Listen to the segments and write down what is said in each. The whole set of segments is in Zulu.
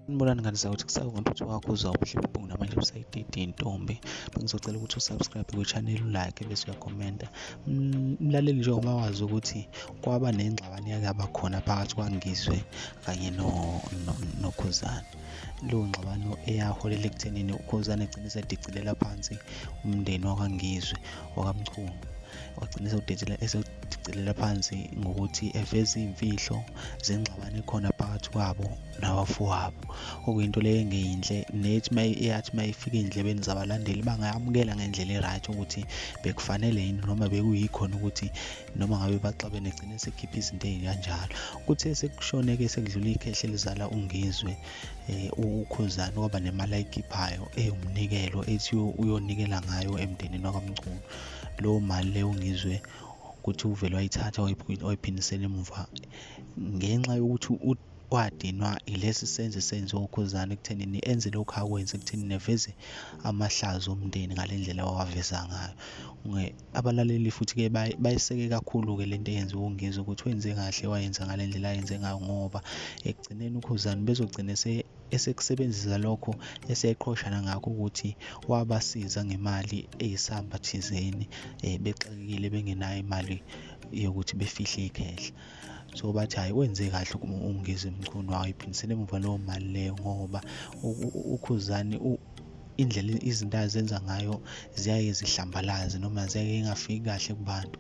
Ngibona ngani ukuthi kusawona ukuthi wakho uzwa ubuhle bobungu namanje busayididi intombi bengizocela ukuthi usubscribe kwichannel ulike bese uyakhomenta mlaleli nje uma wazi ukuthi kwaba nengxabano yakaba khona phakathi kwangizwe kanye no nokhuzana leyo ngxabano eyaholela ekuthenini ukhuzana egcine sedicilela phansi umndeni wakwangizwe wakamchunu wagcina esewudedela esewudicelela phansi ngokuthi eveze iy'mfihlo zengxabano ekhona phakathi kwabo nabafowabo okuyinto leyo engeyinhle nethi uma eyathi uma ifika ey'ndlebeni zabalandeli bangayamukela ngendlela e-right ukuthi bekufanele yini noma bekuyikhona ukuthi noma ngabe baxabene gcine sekhipha izinto ey'kanjalo kuthe sekushone-ke sekudlula ikhehle elizala ungizwe um ukhuzani waba nemali ayikhiphayo ewumnikelo ethi uyonikela ngayo emndenini wakamchunu leyo mali leyo ngizwe ukuthi uvele wayithatha wayiphindisela emuva ngenxa yokuthi wadinwa ilesi senzo esenziwa ukhuzana ekuthenini enze lokhu akwenze ekuthenini eveze amahlazo omndeni ngale ndlela wawaveza ngayo abalaleli futhi-ke bayiseke kakhulu-ke le nto eyenziwa ungizwe ukuthi wenze kahle wayenza ngale ndlela ayenze ngayo ngoba ekugcineni ukhuzani bezogcine esekusebenzisa lokho eseqhoshana ngakho ukuthi wabasiza ngemali eyisamba thizeni eh, bexakekile bengenayo imali yokuthi befihle ikhehla so bathi hhayi wenze kahle ukungiza emchunu wayo iphindisele emuva leyo mali leyo ngoba ukhuzani indlela izinto azenza ngayo ziyaye zihlambalaze noma ziyaye ingafiki kahle kubantu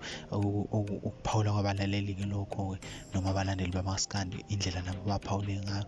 ukuphawula kwabalaleli-ke lokho-ke noma abalandeli bamaskandi indlela nabo baphawule ngayo